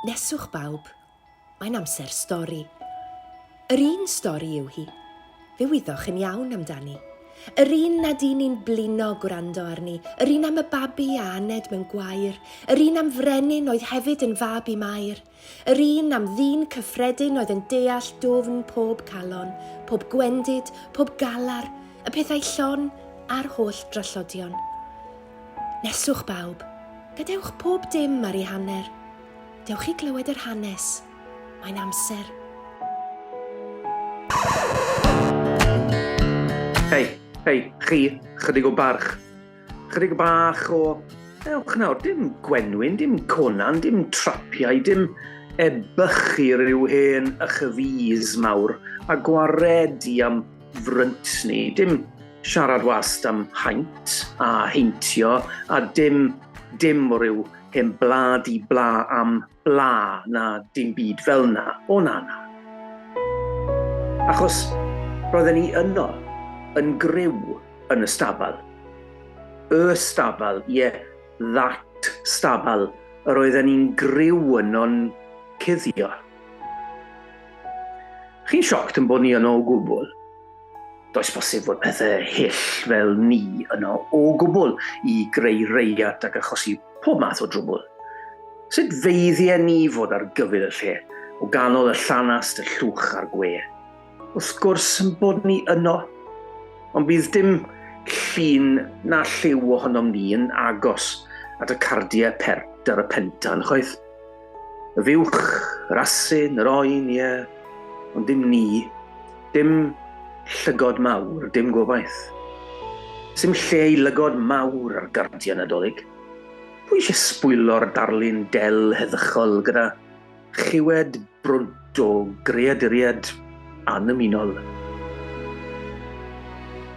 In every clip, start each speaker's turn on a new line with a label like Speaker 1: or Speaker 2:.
Speaker 1: Neswch bawb, mae'n amser stori. Yr un stori yw hi. Fe wyddoch yn iawn amdani. Yr un nad un ni'n blino gwrando arni, yr un am y babi a aned mewn gwair, yr un am frenin oedd hefyd yn fab i Mair, yr un am ddyn cyffredin oedd yn deall dwfn pob calon, pob gwendid, pob galar, y pethau llon a'r holl drallodion. Neswch bawb, gadewch pob dim ar ei hanner. Dewch i glywed yr hanes. Mae'n amser.
Speaker 2: Hei, hei, chi, chydig o barch. Chydig bach o... Ewch nawr, dim gwenwyn, dim conan, dim trapiau, dim ebychu rhyw hen ychyfys mawr a gwaredi am ffrynt ni, dim siarad wast am haint a heintio a dim, dim o ryw hen bla di bla am bla na dim byd fel na, o na na. Achos roedden ni yno, yn gryw yn y stabal. Y stabal, ie, yeah, that stabal, yr oedden ni'n gryw yno'n cuddio. Chi'n sioct yn bod ni yno o gwbl? Does bosib fod pethau hyll fel ni yno o gwbl i greu reiat ac achosi pob math o drwbl. Sut feiddie ni fod ar gyfyl y lle, o ganol y llanast, y llwch a'r gwe? Wrth gwrs yn bod ni yno, ond bydd dim llun na lliw ohonom ni yn agos at y cardiau pert ar y pentan, chwaith. Y fuwch, yr asyn, yr oen, ie, ond dim ni, dim llygod mawr, dim gobaith. Sym lle i lygod mawr ar gardiau Nadolig. Pwy eisiau sbwylo'r darlun del heddychol gyda Chiwed brwnt o greaduriaid annymunol.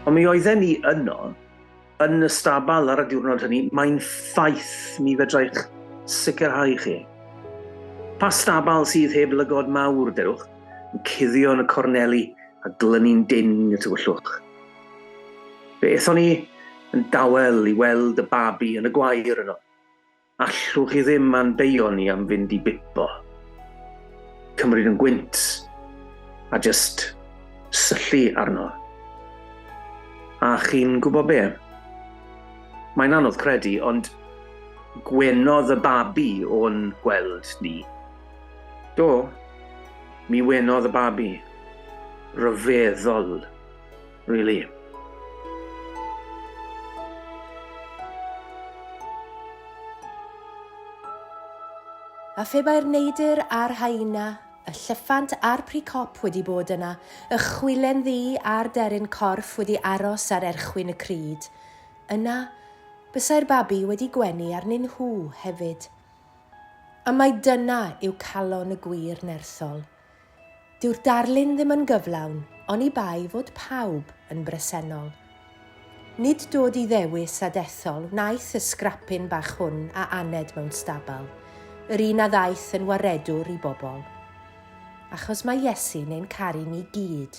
Speaker 2: Ond mi oedden ni yno, yn y stabal ar y diwrnod hynny, mae'n ffaith mi fedrai'ch sicrhau chi. Pa stabal sydd heb lygod mawr, derwch, yn cuddio yn y corneli a glynu'n dyn y tywyllwch. Fe ethon ni yn dawel i weld y babi yn y gwair yno. Allwch chi ddim a'n beio ni am fynd i bipo, cymryd yn gwynt a jyst syllu arno. A chi'n gwybod be? Mae'n anodd credu, ond gwenodd y babi o'n gweld ni. Do, mi wenodd y babi. Rhyfeddol. Really.
Speaker 1: A phe bai'r neidr a'r haina, y llyffant a'r pricop wedi bod yna, y chwilen ddu a'r deryn corff wedi aros ar erchwyn y cryd, yna bysai'r babi wedi gwenu arnyn nhw hefyd. A mai dyna yw calon y gwir nerthol, Dyw'r darlun ddim yn gyflawn oni bai fod pawb yn bresennol. Nid dod i ddewis a dethol wnaeth y sgrapyn bach hwn a aned mewn stabal, yr un a ddaeth yn waredwr i bobl. Achos mae Iesu neu'n caru ni gyd.